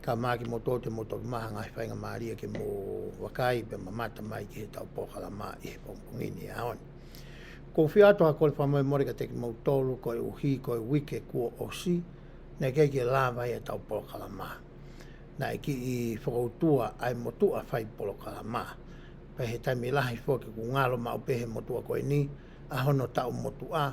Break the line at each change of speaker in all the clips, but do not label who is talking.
Ka māki mō tō te motoru maha ngāi whainga mārie ki mō Wakaī pia ma māta mai ki he tau pōhara mā i he pongpongi ni a on. Ko whia atoha kore whamoe more ka teki mō tōru koi o hī koi wike kua o si, nei kei ki lāwa i he tau pōhara mā. Na e ki i whakautua ai mō tua whai pōhara mā. Pei he taimi lahi whoki ku ngāro mā upe he motua koi ni, a hono tau motu a,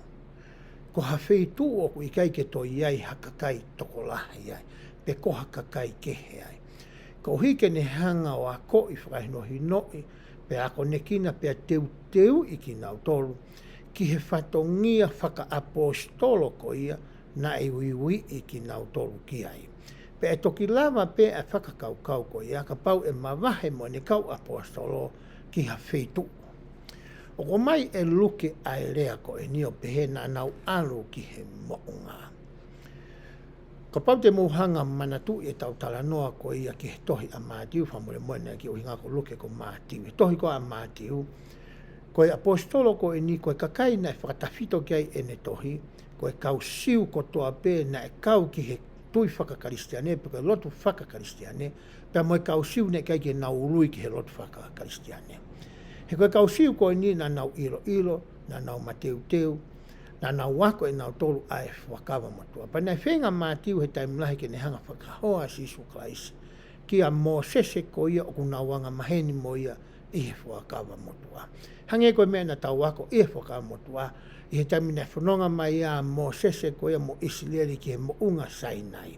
Koha whei tū oku i kai ke toi ai ha ka kai toko lahi ai, te koha ka kai kehe ai. Ka ohi ke ne hanga o a ko i whakahinohi noi, pe a konekina pe a teu teu i ki nau tolu, ki he whatongia whaka apostolo ko ia na e ui ui i ki nau tolu ki ai. Pe e toki lawa pe a whakakau kau ko ia ka pau e mawahe mo ne kau apostolo ki ha whei tū. Oko mai e luke ai rea ko e nio pehe na nau aro ki he moonga. Ka pau te mohanga manatu e tau tala noa ko ia ki he tohi a Matiu whamore moena ki uhinga ko luke ko Matiu. He tohi ko a Matiu, ko e apostolo ko e ni ko e kakai na e whakatawhito ki ai ene tohi, ko e kau siu ko toa pe na e kau ki he tui whakakaristiane pe ko e lotu whakakaristiane, Pea mai ka usiu nei kei te nau rui ki he lotu whakakaristiane. He koe ka usiu koe ni na nau ilo ilo, na nau mateu teu, na nau wako e nau toru a e whakawa matua. Pa nei whenga matiu he taimu lahi ke ne hanga whakahoa as Isu Christ ki a Mosese ko ia o kuna wanga maheni mo ia i he whakawa matua. Hange koe mea na tau wako i he whakawa matua i he taimu nei whanonga mai a Mosese ko ia mo Isilieri ki he mounga Sainai.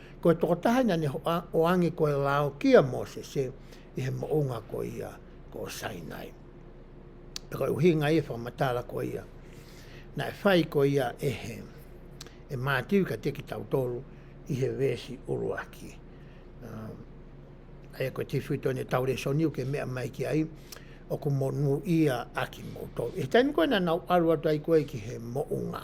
Kua tokotahaina ne o ange ko e lao ki a Mosese i he moonga ko ia ko Sainai. E kore u hinga ia whakamatara ko ia, na e whai ko ia e he, e matiu ka teki tau toru i he vesi uruaki. Um, ai e koe tiwhi tōne tau re soniu ke mea mai ki ai, o ko mo nu ia aki mo tō. E taimi koe na nau aru atu ai koe ki he moonga.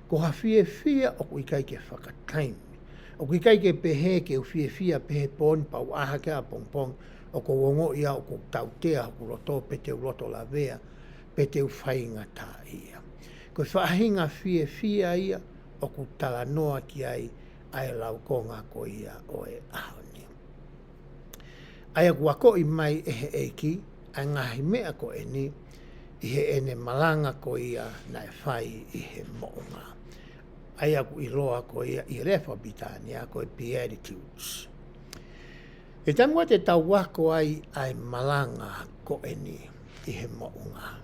Ko hawhiewhia o kui kai ke whaka taim. O kui kai ke pehe ke uwhiewhia pehe pon pau aha ke a pong pong o ko wongo ia o ko tau tea hoku roto pe teu loto la vea pe teu whainga ta ia. Ko whaahinga whiewhia ia o ku tala noa ki ai ae lau ko nga ko ia o e aho ni. Ai aku akoi mai e he eiki, ai ngahi mea ko eni, i he ene maranga ko ia na e whai i he moonga. Ai aku i roa ko ia i re Whapitania ko e Beatitudes. E tamua te taua ko ai ai maranga ko eni i he moonga.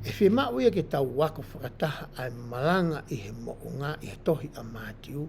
E whi mauia ke taua ko whakataha ai maranga i he moonga i he tohi a Matiu,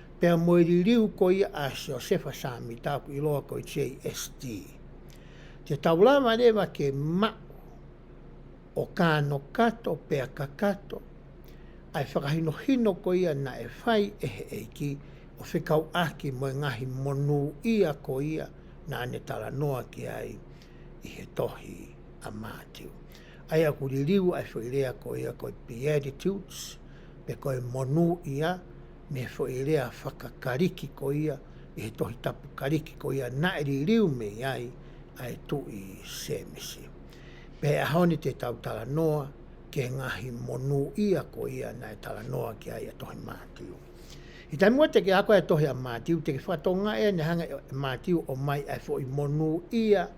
Pea moe ririu ko ia a Siosefa Sami taku i roa ko JST. Te taurawa rewa ke ma o kano kato pea ka kato ai whakahino hino ko ia na e whai e he eiki o whekau aki moe ngahi monu ia ko ia na ne tara noa ki ai i he tohi a Matiu. Ai aku ririu ai whai rea ko ia ko Beatitudes pe koe monu ia Me whoi rea whakakariki ko ia, i he tohi tapu kariki ko ia naeri riu me ai a e tu i Semesi. Me he ahoni te tau tala noa, ki he ngahi monu ia ko ia na e tala noa ki a ia tohi Matiu. I tae mua teke a koe e tohi a Matiu, teke whatonga e nehange e Matiu o mai ai fo i monu ia,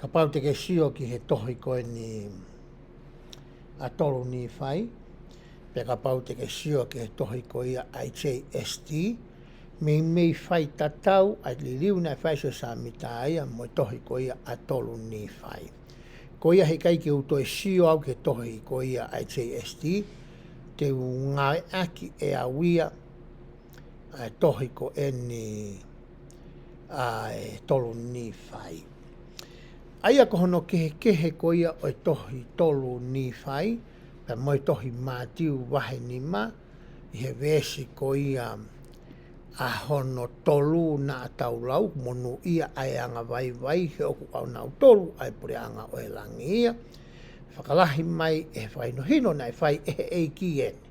Ka pau te kesio ki he tohi koe ni a tolu ni whai, pe ka pau te kesio ki he tohi ko ia HAST, mi mi whai tatau a liliu na whai se sa mi ta ia mo tohi ko ia a tolu ni whai. Ko ia he kai ki uto e sio au ke tohi ko ia HAST, te u ngae aki e a wia, e tohi ko eni ai tolu Nīwhai. Ai a kohono kehe kehe ko ia o tohi tolu Nīwhai, pe moi tohi mātiu wahe ni ma, i he vēsi ko ia a hono tolu nā tau lau, monu ia ai anga vai vai, he oku au nau tolu, ai pure anga o e langi ia, whakalahi mai e whai no hino nei, whai e he eiki eni.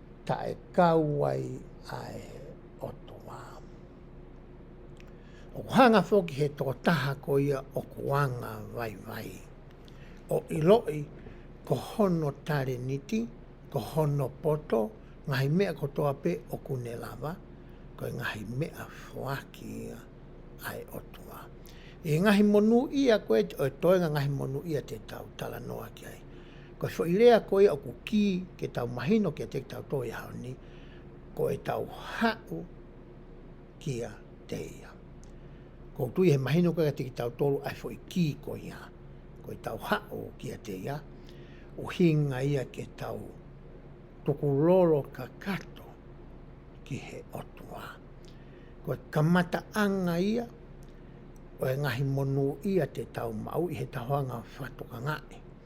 tae kau ai a e oto wa. O ko hanga foki he to taha ko ia o ko wanga vai vai. O iloi ko hono tare niti, ko hono poto, ngahi mea ko to ape o kune lava, ko e ngahi mea foaki ia a e oto wa. E ngahi monu ia ko e toenga ngahi monu ia te tau tala noa ki ai. Kua whairea koe au ko ki ke tau mahino ke te tau toi hau ni, ko e tau hau ki a te ia. Ko tui he mahino koe te ki tau tolu ai fo i ki ko ia, ko e tau hau ki a te ia, o hinga ia ke tau tuku lolo ka kato ki he otua. Ko e kamata anga ia, o e ngahi monu ia te tau mau i he tahoanga whatoka ngae.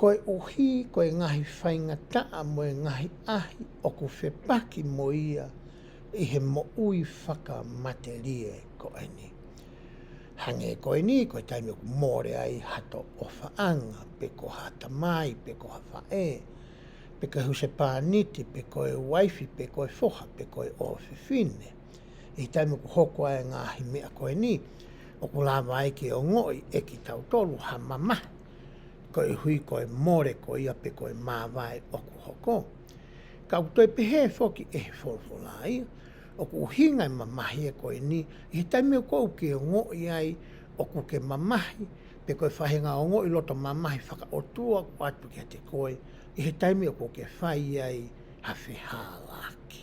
Koe ohi, koe ngahi whainga taa moe ngahi ahi oku whepaki mo ia i he moui whaka mate rie koe ni. Hange koe ni, koe taimi oku moore ai hato o whaanga, pe koha tamai, pe koha whae, pe koe husepaa niti, pe koe waifi, pe koe foha, pe koe owhewhine. I te moku hoko ai nga hi mea koe ni, o ko lawa ai ki o ngoi e ki tau tolu ha mama, ko i hui koe more ko ia pe koe mawai o ku hoko. Ka ku toi pehe foki e hi folofola ai, o ku hi ngai mamahi e koe ni, i he tai mea kou ki o ngoi ai o ku ke mamahi, pe koe fahe nga o ngoi loto mamahi faka o tua ko atu ki a te koe, i he tai mea ko ke fai ai ha feha la ki.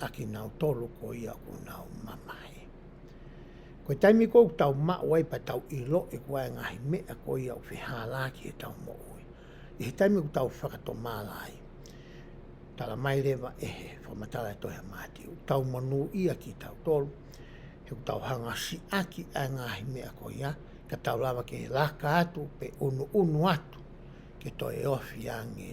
a ki nao tolu ko ia ko nao mamae. Koe taimi kou tau ma o ai pa tau i lo e kua e ngahi me a ko ia o whi hālā ki he tau mo oi. I he taimi ku tau whakato māla ai. Tala mai rewa e he whamatala e toi ha māti. U tau manu ia ki tau tolu. He ku tau hanga si aki a ngahi me a ko ia. Ka tau lawa ke laka atu pe unu unu atu. Ke toi e ofi a nge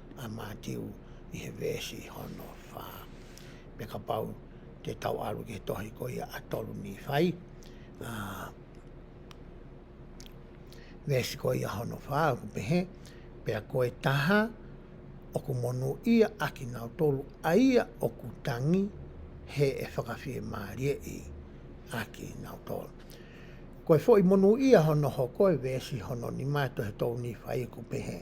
a Matiu i he vesi hono wha. Me ka pau te tau aru ke tohi ko ia a toru ni whai. A, vesi ko ia hono wha, ku pehe, pe a koe taha, o ku monu ia a ki ngau toru, a ia o ku tangi, he e whakawhie marie i, a ki ngau toru. Koe fo i monu ia hono ho koe vesi hono ni mātou he toru ni whai ku pehe.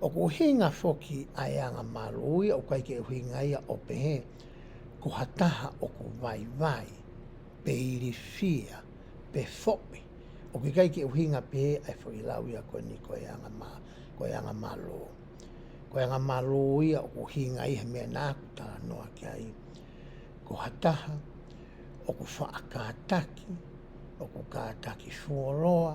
O ko hinga foki a eanga ma roia o kai ke uhi ngai a opehe ko ha taha o ko vai vai pe iri fia pe fopi o ke kai ke uhi nga pe ai foki lau ia koe ni ko eanga ma ko eanga ma ro ko eanga ma roia o ko hinga i he mea na ku ta no a ke ai ko ha taha o ko fa a ka taki o ko ka taki fuoroa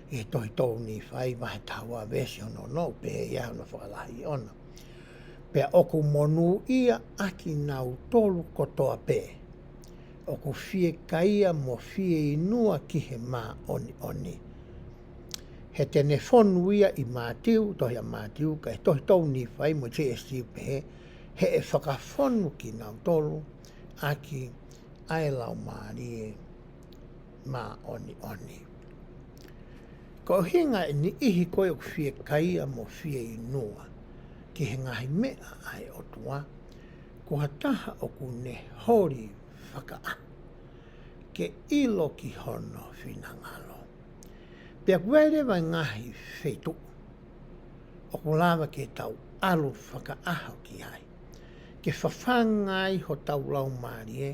i toi tōu Nīwhai mahe taua version o nō pēhea ana whakarahi ona. Pea oku monū ia aki nāu tolu kotoa pē. Oku whie kaia mo whie inua ki he mā oni oni. He tene whonu ia i Mātiu, tohi a Mātiu, kai tohi tōu Nīwhai mo JSG pehe, he e whakawhonu ki nāu tolu, aki, ae lao mārie, mā Onioni. Ko hinga e ni ihi koe o fie kaia mo fie i noa, ki he ngahi mea ai o toa, ko ha taha o ku ne hori whakaa. Ke ilo ki hono fina ngalo. Pea ku ai rewa ngahi fetu, o ku lava ke tau alo whakaaho ki ai. Ke whawhanga ai ho tau lau marie,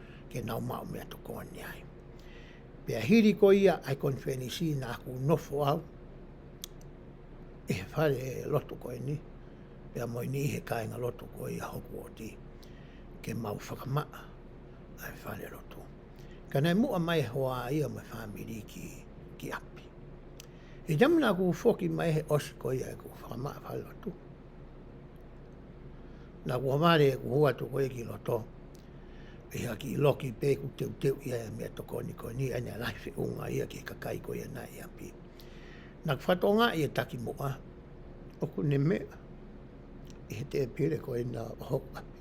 ke nau mao mea to koani ai. Pea hiri ko ia ai kon feni si na ku nofo au. E he whare loto koe ni, pea moi ni he kainga loto ko ia hoku o ti. Ke mau whakamaa, ai whare loto. Ka nei mua mai hoa ia mai whamiri ki, ki api. E jamina ku foki mai he osi ko ia e ku whakamaa whare loto. Na ku hamare ku hua to koe ki loto. E hea ki loki pe ku teu teu ia e mea to koni koni ia ne lai fe unga ia ki kakai ko ia na ia pi. Na ku fato nga ia taki mo a. O ku ne me e he te pire ko e na ho a pi.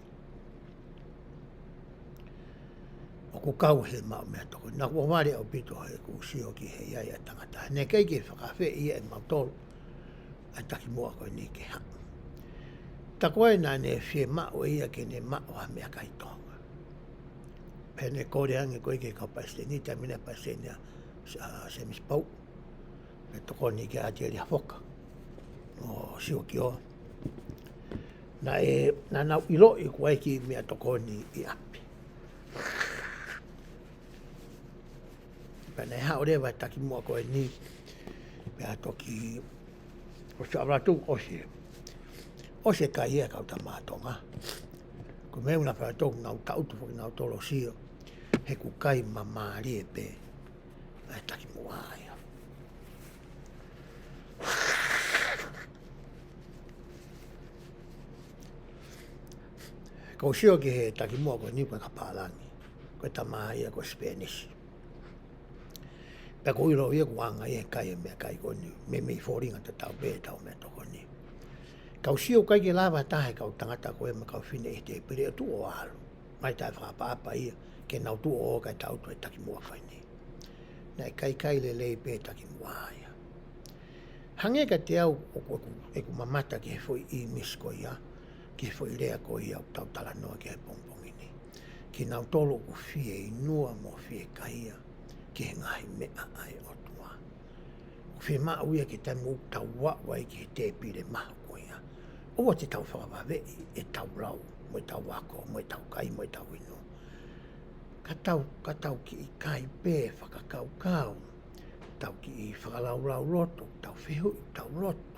O ku kau he ma mea to koni. Na ku waware o pito he ku si o ki he ia ia tangata. Ne kei ki whakafe ia e ma tolu. a Takimoa koe nei ke ha. Tako ai nā ne fie ma o ia ke ne ma o ha mea kai tonga. Pea ne kore ange koe ke kau paste ni ta mina paste ni a se mis pau. Me toko ni ke ati ari a foka. O si o ki o. Na e na na ilo i kuai ki mea toko ni i api. Pēnei hā, o rewa e taki mua koe ni, pēhā toki o sā rātou ose. Ose kai ia kau tā mātonga. Ko me una whai tōku ngau tautu whaki ngau tōro sio, he ku kai ma māri e pē, e taki mua aia. Ko sio ki he taki mua koe ni koe ka pālani. Koe tamaha ia ko Spanish. Pea ko iro ia ko anga ia kai e mea kai koni. Me mei fōringa te tau pē tau mea to koni. Kau si o kai ke lava tahe kau tangata ko ema kau fine e te pere tu o alu. Mai tai whapa apa ia ke nau tu o kai tau tu e taki mua whai nei. Nei kai kai le lei pē taki mua aia. Hange ka te au o koku e ku mamata ke foi i miskoia. Ki whai rea ko ia o tautara noa ki ai pongpongi nei. Ki nau tolo ko fie i nua mo fie kahia ki he ngahi mea ai o tua. Ko fie maa uia ki tai mo tau wa wai ki he te pire maha ko ia. Owa te tau whakawave e tau rau mo e tau wako mo e tau kai mo e tau ino. Ka tau, ka tau ki i kai pe whakakau kau. Tau ki i whakarau rau roto, tau fehu, tau roto.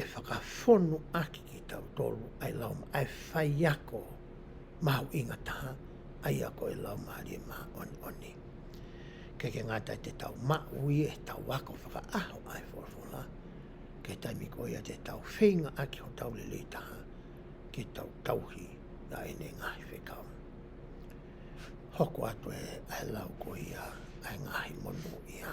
e whakawhonu ake ki tau tolu ai lau ma ai whai ako mau i nga taha ai ako e lau ma rie ma on oni ke ke nga tai te tau ma ui e tau ako whaka aho ai fofola ke tai mi ko ia te tau whinga aki ho tau lili taha ki tau tauhi na e ne ngahi whekau hoko atu e ai lau ko ia ai ngahi monu ia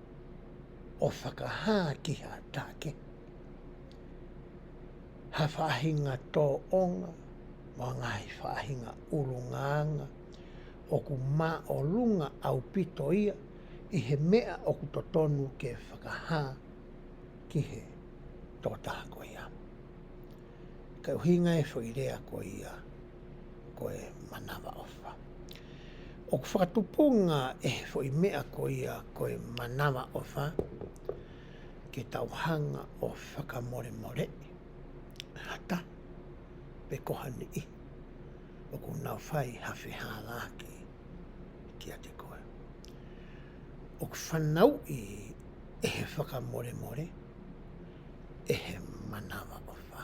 o whakahā ki hā tāke. Hā whāhinga tō onga mō ngā hī whāhinga urungaanga, oku mā o runga au pito ia i he mea oku to tonu ke whakahā ki he tō tāko ia. Kei uhinga e whoi rea ko ia. koe manawa owha. Oku whakatupunga e fo i mea ko ia koe manawa owha ke tau hanga o whakamore more, hata, pe kohani i, oku nau whai hawhi hālāki ki a te koe. Oku whanau i e he whakamore more, e he manawa owha.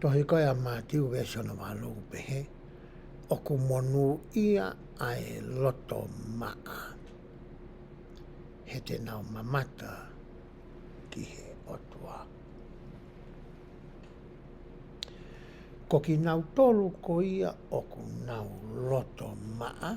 Tohe kai a Matiu e sona wa lou pehe o ku monu ia ae loto maa. He te nao mamata ki he otua. Ko ki nau tolu ko ia o ku nau loto maa.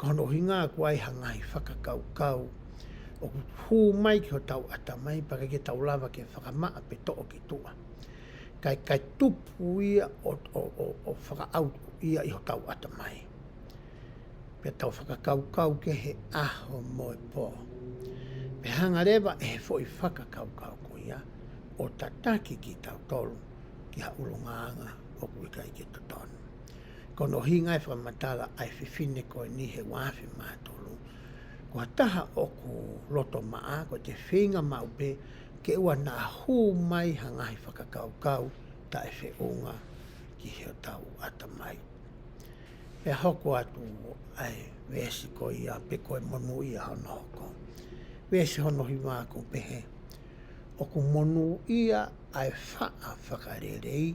Kanohi ngā waehanga i whakakaukau o hū mai ki o tau ata mai, pakeke tau lava ke whakamaa pe too ki tua. Kai kai tupu ia o, o, o, o whakaau ia i o tau ata mai. Pe tau whakakaukau ke he aho moe po. Pe hanga rewa e he fo i whakakaukau ko ia o tataki ki tau tolu ki ha ulungaanga o kuikai ki tutonu. Ko no hingai wha matara ai whiwhine koe ni he wawhi ma tolu. Kua taha oku roto ma a ko te whinga ma upe ke ua na hu mai ha ngahi whakakau kau ta e whe unga ki he tau ata mai. He hoko atu ai wesi ko i a pe koe monu i a hono hoko. Wesi hono hi ma aku pehe. Oku monu i a ai wha a whakarerei.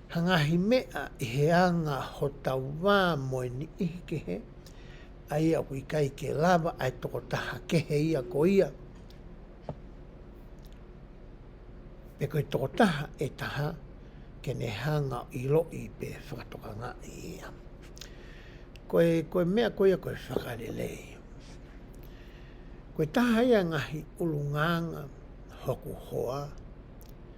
Hangahi mea i he anga ho tau wa moe ni ihi ke he, a ia hui kai ke lawa ae toko taha ke he ia ko ia, pe koe toko taha e taha ke ne hanga i lo i pe whakatoka nga i ia. Koe, koe mea ko ia koe whakarele i. Koe taha ia ngahi ulu nganga hoku hoa,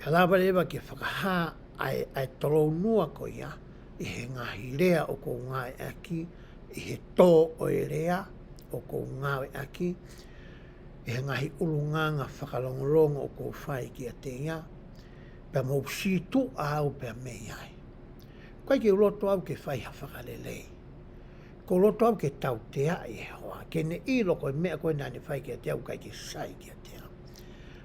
Ka lawa rewa kia whakahā ae ae torou noa ko ia, i he ngahi rea o kou ngawe aki, i he to oe rea o kou ngawe aki, i he ngahi urunganga whakalongolongo o kou whai ki a te ia, pea mou si tu a au pea mei ai. Koe ki roto au ke whai ha whakalelei. Ko roto au ke tau te a Ihehoa, ke ne i lo koe mea koe nane whai ki a te au kai ke sai ki a te au.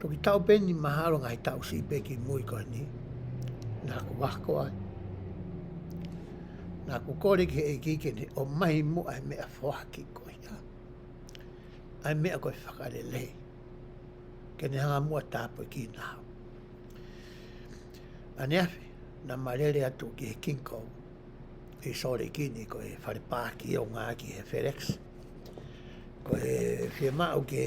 Ko ki tau peni mahalo ngai tau si pe ki mui ko ni. Na ko wako ai. Na ko kore ki e ki ke ni o mai mu ai me a foa ki ko ia. Ai me a ko e whakare lei. Ke ni hanga mua tāpo ki na hau. Ane awhi, na marere atu ki he kinko. Ki sore ki ni ko e whare pāki o ngā ki he FedEx. FedEx. Ko e whia māu ke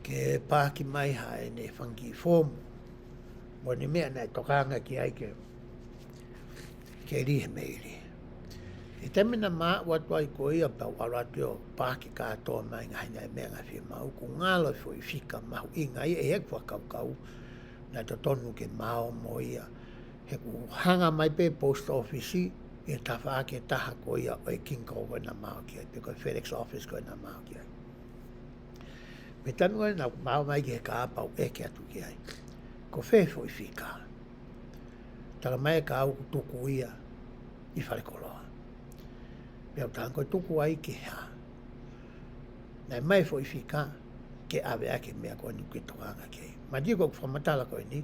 ke pāki mai ha e nei funky form. Mo ni mea nei tokaanga ki ai ke ke ri he meiri. I te mina mā ua toi ko ia pa wara te o pāki kātoa mai ngai nei mea ngai whia māu ko ngā loi fo i whika mahu i ngai e he kua kau kau na to tonu ke māo mo ia. he hanga mai pe post office e tawha ake taha ko ia o e King Cole koe na mao ki ai, pe koe FedEx office koe na mao ki ai. Me tanu ai na mao mai ki he kāpau e ke atu ki ai. Ko whē fo i whika. Tara mai e kāu ku tuku ia i whare koloa. Me au tāng koe tuku ai ki hea. Nei mai fo i whika ke awe ake mea koe ni ke toka anga kei. Ma di koe ku whamatala koe ni,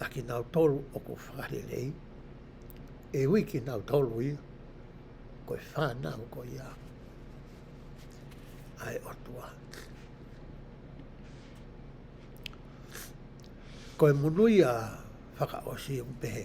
a ki nau tolu o ko whare nei, e hui ki nau tolu i, ko i whanau ko i a. Ai o tua. Ko i munui a whakaosi o pehe,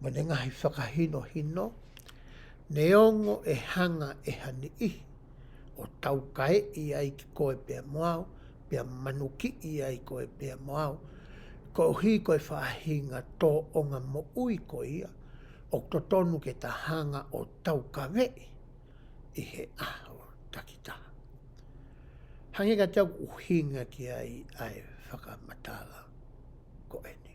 Mo ne ngahi whakahino hino, ne ongo e hanga e hani ihi, o tau kae i ai ki koe pea mo au, pea manu ki i ai koe pea mo au, ko hi koe whahinga to onga mo ui ko ia, ok to tonu ke ta hanga o tau kawe i, i he aho takitaha. Hange ka tau uhinga ki ai ae whakamatala ko eni.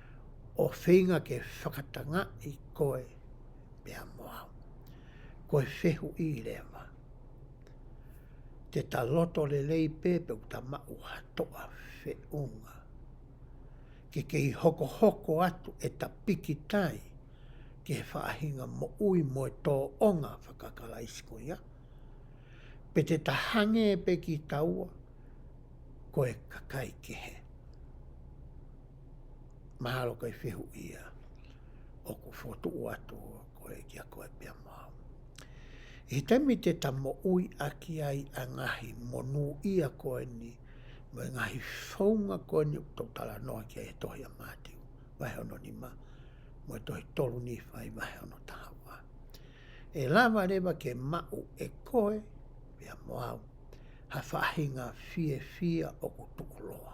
o wheinga ke whakatanga i koe mea moau. Koe whehu i rewa. Te ta loto le lei pepe u ta ma u hatoa whe unga. Ke kei hoko hoko atu e ta piki tai ke he whaahinga mo ui mo e to onga whakakala i siko ia. Pe te ta hange pe ki taua koe kakai ke he. Mahalo kei whihu ia. Oku whotuo atu koe ki a koe pea mau. I te mite ta mo ui aki ai a ngahi mo nu ia koe ni, mo e ngahi whaunga koe ni to tala noa ki a e tohi a Matiu, wahe ono ni ma, mo e tohi tolu ni whai wahe ono taha wa. E lawa rewa ke mau e koe, pea mo au, ha whahinga fie fia oku tuku loa.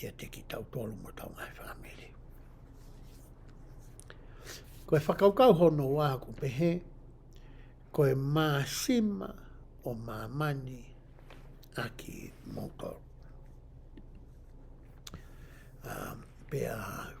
i a Teki Tautoru mo tau ngai whamiri. Koe whakaukau hono wā ko pehe, koe mā sima o mā mani aki mō kau. Um, pēa hau.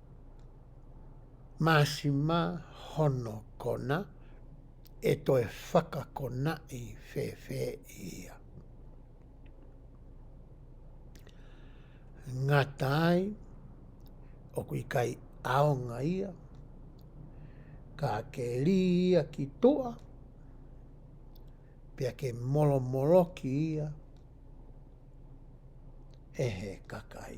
Masima hono kona e toe whakakona i whewhe ia. Ngata ai, oku i kai aonga ia, ka keri ia ki toa, pia ke molomolo ki ia, ehe kakai.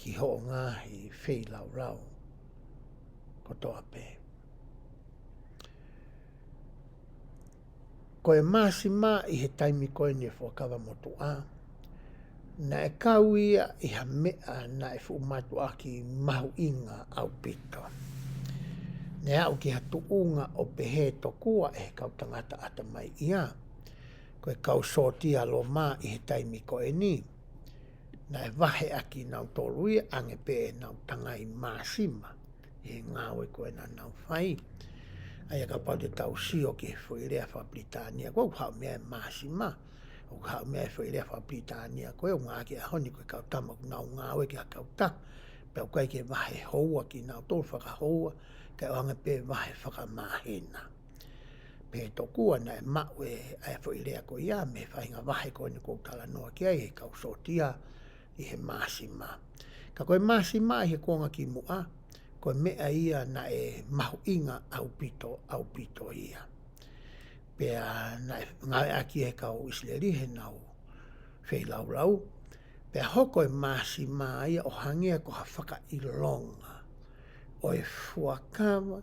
ki Hoongahi Wheilaurau ko to ape. Ko e maasi mā i he taimi koe ni e whakawa mo to a, na e kau ia i ha mea na e whu mātu a ki mahu inga au pito. Ne au ki ha tu unga o pehe to kua e kau tangata ata mai ia, ko e kau sōti alo mā i he taimi koe ni, Nai wahe a ki nau torui ange pe e nau tanga i masima e nga we ko na nau fai ai ka pa de tau si o ke fo ile fa britania ko ha me masima o ka me fo ile fa britania ko e nga ke ho ni ko ka tama ku nau nga we ke ka ta pe ko ke wahe ho wa ki nau to fa ka ho ka ange pe wahe fa ka mahina Pē toku ana e ma, we ae fo i rea ko ia, me whainga wahe ko ni kou tala noa ki ai he kau sotia i he masi ma. Ka koe masi ma i he konga ki mua, koe mea ia na e mahu inga au pito, au pito ia. Pea na e ngawe a ki he kau Isleri he nau fei lau lau, pea hoko e masi ma ia o hangea ko ha whaka i longa. Oe fuakawa,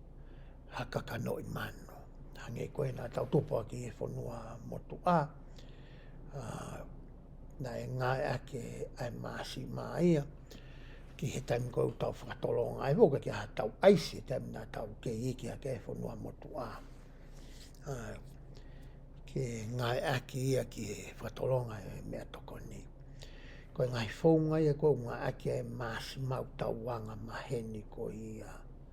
hakaka no i mano. Hange koe na tau topa ki e whanua motu a, a na e ngai ake ai maasi maia, ki he taim koe u tau whakatolo ngai voka ki a tau aisi e taim na tau ke i ki a ke e whanua motu a. a ke ngai ake ia ki he whakatolo ngai e mea toko ni. Koe ngai whou ngai e koe ngai ake ai maasi mau tau wanga maheni ko ia.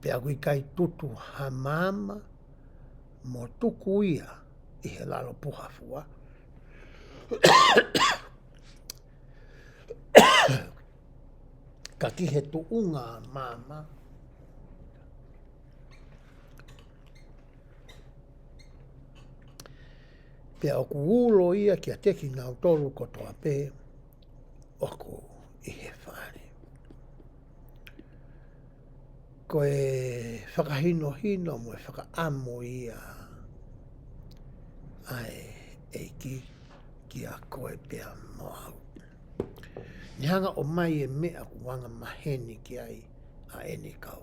Te awi kai tutu ha mama mo tuku ia i he lalo puhafua. ka ki he tu unga mama. Te aku ulo ia ki a teki nao toru kotoa pē. ako i he whare. Ko e whakahino hino mo e whakaamo i a ai e ki ki a koe pia mo au. Ni hanga o mai e mea ko wanga maheni ki ai a eni kau.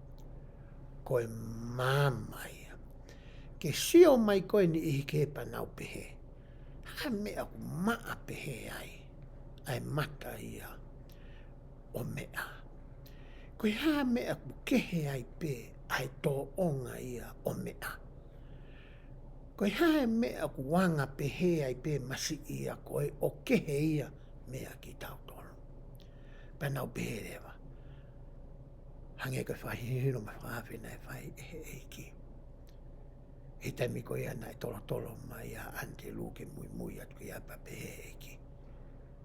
Koe māmā ia. Ke sio mai koe ni Ihikēpana o Pehe, hā mea ko Maa Pehe ai, ae mata ia o Mea. Koe hā mea ko Kehe ai pe ae tō onga ia o Mea. Koe hā mea ko Wanga Pehe ai pe masi ia koe o Kehe ia mea ki tau tonu. Pana o Pehe rewa. Hange koe whahihiro ma whawhina e whai e he eiki. He temi koe ana e tolo tolo mai a ante lu ke mui mui atu ki a pape he eiki.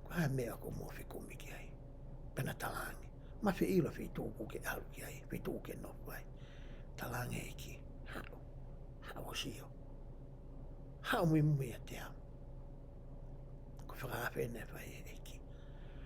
Ko ha mea ko mo fi komi ki ai. Pena talangi. Ma fi ilo fi tu ku ke alu ki ai. Fi tu ke no fai. Talangi eiki. Hao. Hao si yo. Hao mui mui a te am. Ko whakawhina e whai e eiki.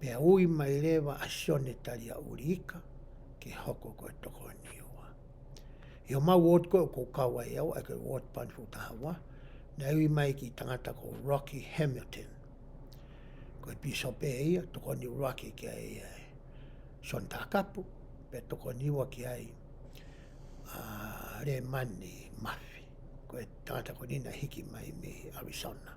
Pea ui mai rewa a Sionetari a Uriika, Ki hoko koe toko niua. I o mau ward koe ko Kawaiau, ai koe ward pan ko Tahawa, na ui mai ki tangata ko Rocky Hamilton. Koe Bishop e ia, toko niu Rocky ki ai e Son Takapu, pe toko niua ki ai a Remani Mafi. Koe tangata ko Nina hiki mai me Arizona.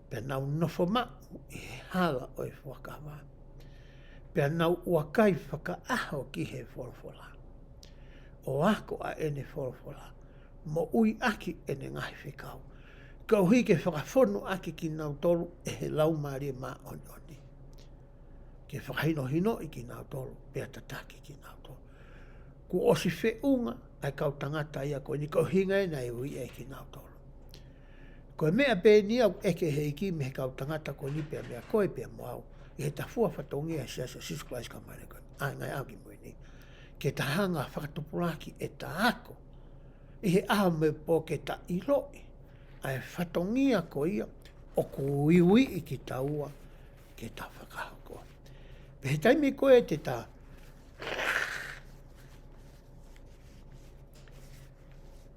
Pea nau nofo ma'u i he hala o i whakawā. Pea nau ua kai whakaaho ki he wholawhola. O ako a ene wholawhola, mo ui aki ene ngahi whekau. Ka uhi ke whakawhono aki ki nau tolu e he lau ma rie ma oni oni. Ke whakahino hino i ki nau tolu, pea tataki ki nau tolu. Ku osi wheunga ai kau tangata ia koe ni kau hinga e nei ui e ki nau tolu. Kua mea pēni au, eke he iki me he kau tangata ko ni pea mea koe pea mo au, i he tafua whatongia e Seasa Jesus Christ ka maere koe, ae ngai au ki muri nei. Ke taha nga whakatupuraki e ta ako, i he aha me po ke ta i loi, a e whatongia ko ia, o ko uiui i ki taua, ke ta whakaha koe. Pe he taimi koe e te ta,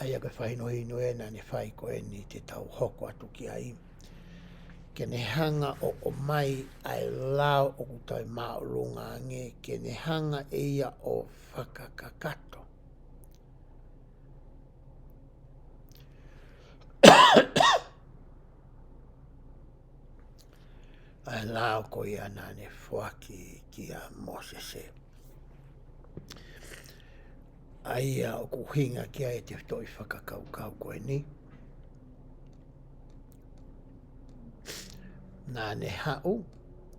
Aia koe whai no inu e na ni whai koe ni te tau hoko atu ki a iwi. Ke ne hanga o o mai ai lao o ku tau ma o runga nge ke ne hanga e ia o whakakakato. ai lao ko ia na ni whaki ki a Mosese. Ai a ko hinga ki ai te toi whakakau kau koe ni. Nā ne hau,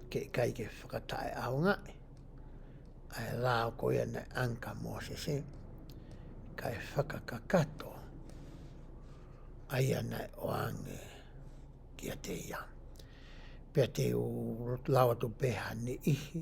ke kai ke whakatai au ngā. Ai rā koe ane anka mōsese, kai whakakakato. Ai ana o ange ki a te ia. Pea te o lawa to peha ni ihi,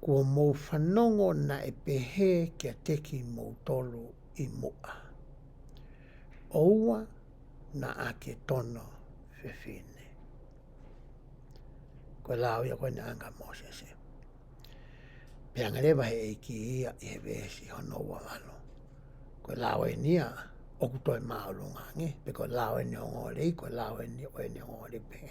Kua mou whanongo na e pehe kia teki mou tolu i mua. Oua na ake tono whewhene. Kua lao ia koe na anga Mosese. Pea ngare wahe e ki ia i he vesi hono wa alo. Kua lao e nia oku toi maolunga nge. Pea kua lao e ni o ngore i kua lao e ni o e ni o ngore pehe.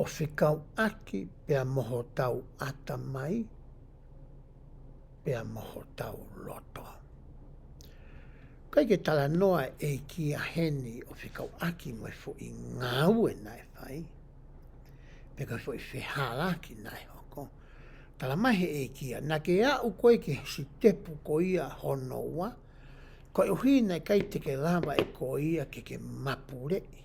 o whikau ake pea mohotau atamai, pea mohotau roto. Kai ke tala noa e ki a Heni o whikau aki mai fo i ngā ue nai whai, pe kai fo i whehāla ki nai hoko, tala mai he e ki a, na ke a u koe ki si tepu ko ia honoa, kai uhi nei kai te ke lava e ko ia ke ke mapurei.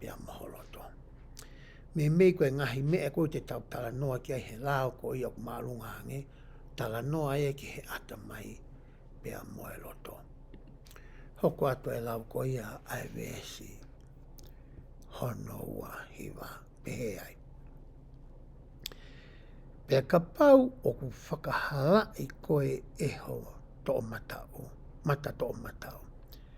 i a Mohoroto. Me mei koe ngahi mea koe te tau tala noa ki ai he lao ko ia ko marunga ange, tala noa e ki he ata mai pe a Moeroto. Hoko atu e lau ko ia ai vesi, hono ua hiwa, pehe ai. Pe ka pau o ku whakahala i koe e ho to o mata o, mata to o mata o.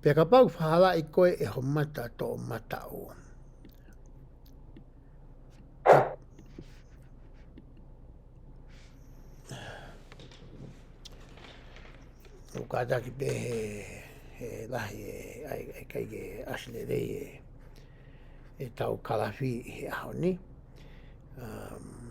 Pea ka pau whahala i koe e ho mata tō mata o. O ka taki pe he, he lahi e, ai, ai kai ke asine rei e, e tau karafi he aho ni. Um,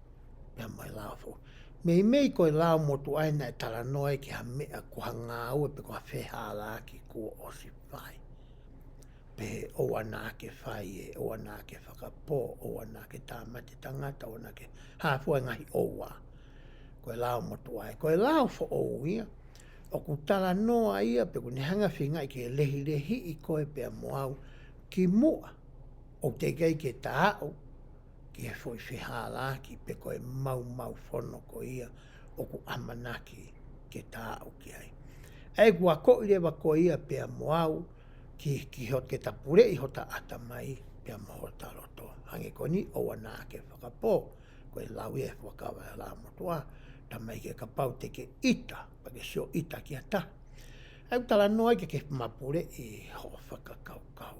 Me a mai la fo. Me i mei koe la mo tu aina e tala noa e ki ha me a ko ha ngā au e pe ko ha wheha la ki ko o si whai. Pe he o ana ake whai e, o ana ake whakapō, o ana ake tāmate tangata, o ana ake hāfua e ngahi o wā. Koe la o motu ai, koe la o fo o ia, o ku tala noa ia pe ku ne hanga whinga i ke lehi lehi i koe pe a moau ki mua, o te gei ke tāu, ki he whoi whehā rā ki te koe mau mau whono ko ia o ku amanaki ke tā au ki ai. Ei kua koi rewa ko ia pea mo au ki ki ho te tapure i ho ta ata mai pea mo ho ta roto. Hangi koni o wana ake whakapō ko e lawi e whakawara rā mo toa ta mai ke ka pau te ke ita pa ke sio ita ki a ta. Au tala noa ke ke mapure i ho whakakau kau.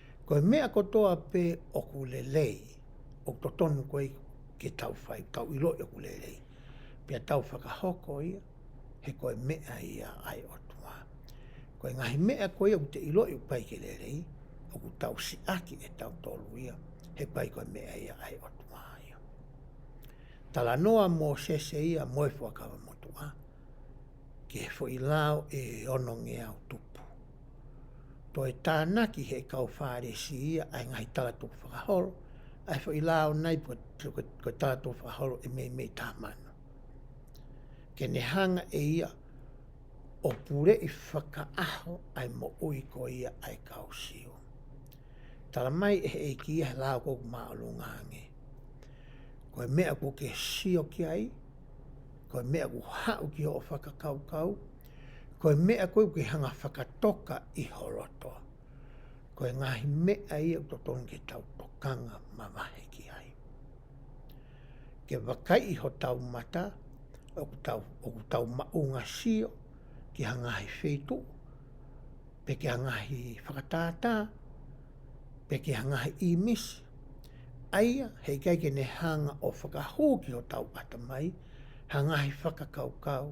Koe mea ko toa pe oku lelei, ok to tonu koe ke tau whai kau i lo i oku lelei. Pea tau whakahoko ia, he koe mea ia ai o toa. Ko engahi mea koe oku te ilo i oku pai ke lelei, oku tau siaki e tau tolu ia, he pai koe mea ia ai o toa ia. Tala noa mo sese ia moe whakawa mo toa, ke he fo i lao e ono ngeau tupu. Toi tāna ki he kau Whāresi ia, ā, engari tātou whakahoro, ā, whai lā ona i puta, tau ko, ko tātou whakahoro e meimei tā māna. Ke nehanga e ia, o pure i whakaaho ai mo ui ko ia ai kau sio. Tara mai e hei ki ia he lā ko ku mālo ngāngi. Ko e mea ko ke sio ki ai, ko e mea ku hau ki o whakakaukau, Kua mea koe ki hanga whakatoka i Horoto, kua ngahi mea i au to tonu ki tau tokanga ma wahe ki ai. Ke wakai iho tau mata, oku tau, oku tau maunga sio, ki hangahi whetu, pe ki hangahi whakatata, pe ki hangahi imis, aia hei kai kene hanga o whakahou ki ho tau atamai, hangahi whakakaukau,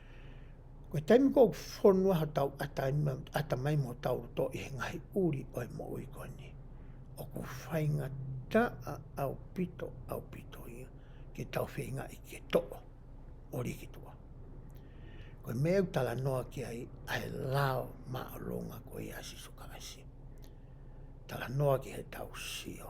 Koe taimi kou whonua ha tau ata ima ata mai mo tau roto i he ngahi uri oi mo ui koe ni. O ku whainga ta a au pito, au pito ia, ke tau whi nga i ke to o, o rikitua. Koe me au tala noa ki ai, ai lao ma o longa koe i asiso ka asi. Tala noa ki he tau sio.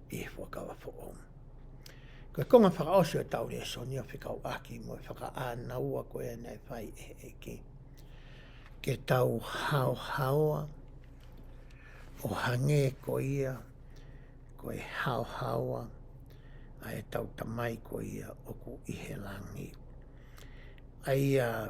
i Whakawa for Om. Ko konga whakaosi o Tauri e Sonia Whikau Aki mo e whakaanaua ko e nei whai e e ki. Ke tau hao haoa, o hange ko ia, ko e hao haoa, a e tau tamai ko ia o ku ihe langi. Ai a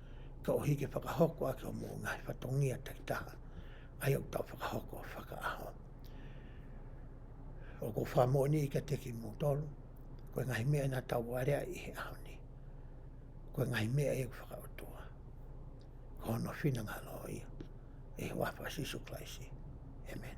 Ka o hiki whakahoko ake o mō Ngāi Whatongia tei taha, ai au tau whakahoko whakaaho. O ko wha mō ni i ka teki mō tolu, koe ngahi mea nā tau warea i he aho ni. Koe ngahi mea e whakautua. Ka hono whina ngā loa ia, e hoa wha sisu klaisi. Amen.